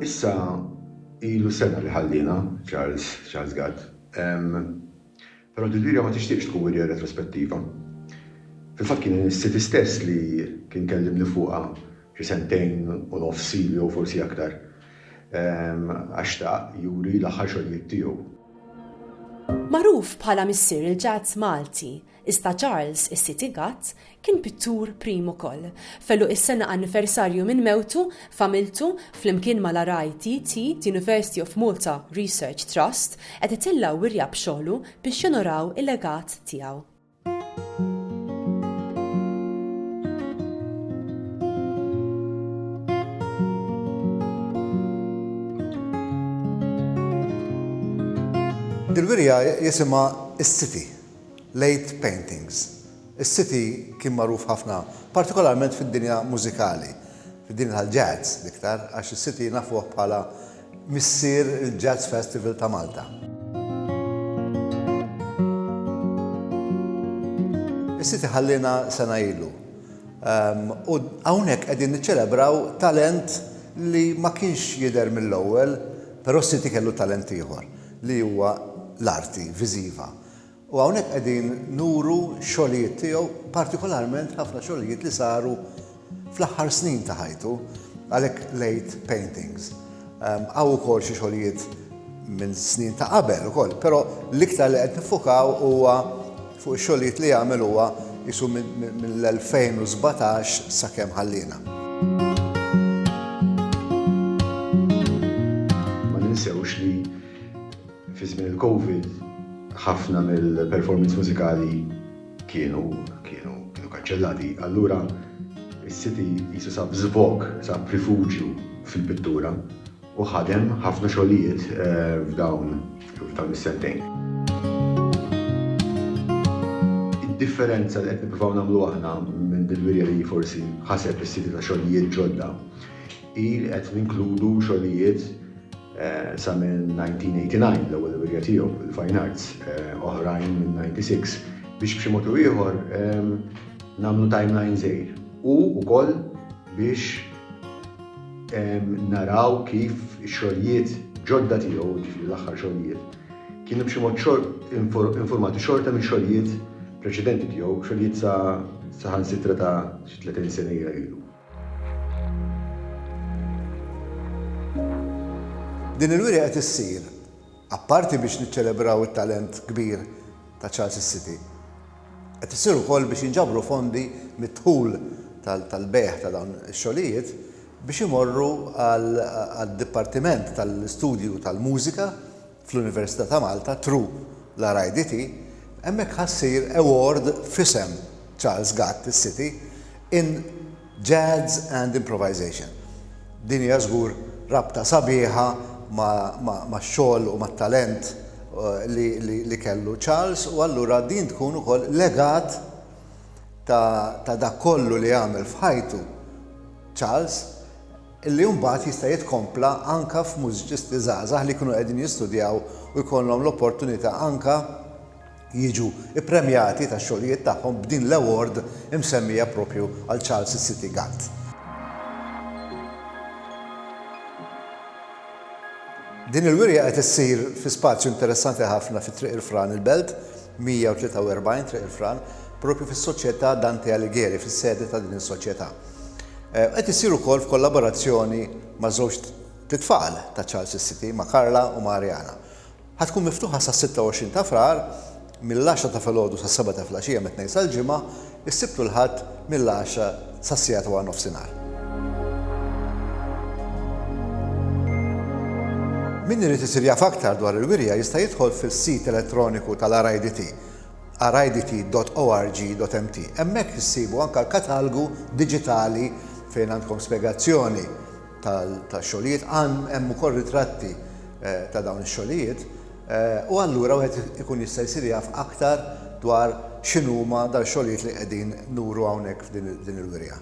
Issa ilu sena li ħalliena, Charles, Charles Gatt. Però Desiria ma tixtieqx tkun wirja retrospettiva. Fil-fatt kien is-City stess li kien kellimni fuqha xi sentejn u nofs ilu jew forsi aktar. Għax xtaq juri l-aħħar xogħlijiet tiegħu. Magħruf bħala missier il-jazz Malti, iżda Charles is-City Gatt kien pittur prim ukoll. Fellu is-sena anniversarju minn mewtu, familtu, flimkien mal-RITT, The University of Malta Research Trust, qed itellgħu wirja b'xogħlu biex jonoraw il-legat tiegħu. Il-wirja jisimha s-City, Late Paintings. Is-City kien magħruf ħafna, partikolarment fid-dinja mużikali, fid-dinja tal-jazz l-iktar, għax is-City nafuh bħala missier il-Jazz Festival ta' Malta. Is-City ħalliena sena ilu. U hawnhekk qegħdin niċċelebraw talent li ma kienx jidher mill-ewwel, però s-City kellu talent ieħor li huwa l-arti viżiva. U hawnhekk qegħdin nuru x-xogħlijiet tiegħu, partikolarment ħafna xogħlijiet li saru fl-aħħar snin ta' ħajtu, għalhekk l-għid paintings. Hawn ukoll xi xogħlijiet minn snin ta' qabel ukoll, però l-iktar li qed nifukaw huwa fuq ix-xogħlijiet li għamel huwa isu mill-2017 sakemm ħalliena. Ma ninsewx li Fi żmien il-Covid, ħafna mill-performance mużikali kienu kanċellati, allura s-City qisu sab żvog, sab rifuġju fil-pittura u ħadem ħafna xogħlijiet f'dawn is-sentejn. Id-differenza li qed nippruvaw nagħmlu aħna minn din l-wirja li forsi ħaseb is-City ta' xogħlijiet ġodda hi li qed ninkludu xogħlijiet Sa mill-1989, l-ewwel wirja tiegħu, il-Fine Arts, oħrajn mill-96, biex b'xi mod u ieħor nagħmlu timeline żgħir. U wkoll biex naraw kif ix-xogħlijiet ġodda tiegħu, ġifieri l-aħħar xogħlijiet, kienu b'xi mod infurmati xorta minn xogħlijiet preċedenti tiegħu, xogħlijiet saħansitra ta' xi 30 sena ilu. Din il-wirja qed issir, apparti biex niċċelebraw it-talent kbir ta' Charles is-City, qed issir ukoll biex jinġabru fondi mid-dħul tal-bejgħ ta' dawn ix-xogħlijiet biex imorru għad-Dipartiment tal-Istudju tal-Mużika fl-Università ta' Malta through l-RIDT, hemmhekk ħa ssir award f'isem Charles Gatt is-City in Jazz and Improvisation. Din hija żgur rabta sabiħa max-xogħol u mat-talent li kellu Charles u allura din tkun ukoll legat ta' dak kollu li għamel f'ħajtu Charles, li mbagħad jista' jitkompla anke f'mużiċisti żgħażagħ li jkunu qegħdin jistudjaw u jkollhom l-opportunità anke jiġu ppremjati tax-xogħlijiet tagħhom b'din l-award imsemmija proprju għal Charles is-City Ghant. Din il-wirja qed issir fi spazju interessanti ħafna fi Triq il-Fran il-Belt 143 Triq il-Fran, proprju fis-Soċjetà Dante Alighieri, fis-sede ta' din is-soċjetà. Qed issir ukoll f'kollaborazzjoni ma' żewġt t-tfal ta' Charles is-City, ma' Carla u ma' Ariana. Ħa tkun miftuħa sas-26 ta' Frar mill-għaxra ta' filgħodu sas-sebgħa ta' filgħaxija mit-Tnejn sal-Ġimgħa, is-Sibt u l-Ħadd mill-għaxra sas-siegħa ta' waranofsinhar. Min irid isir jaf aktar dwar il-wirja jista' jidħol fis-sit elettroniku tal-RIDT. Ara idt.org.mt. Hemmhekk issibu anke l-katalgu diġitali fejn għandkom spjegazzjoni tax-xogħlijiet, hemm ukoll ritratti ta' dawn ix-xogħlijiet, u allura wieħed ikun jista' jsir jaf aktar dwar x'inhuma dal-xogħlijiet li qegħdin nuru hawnhekk f'din il-wirja.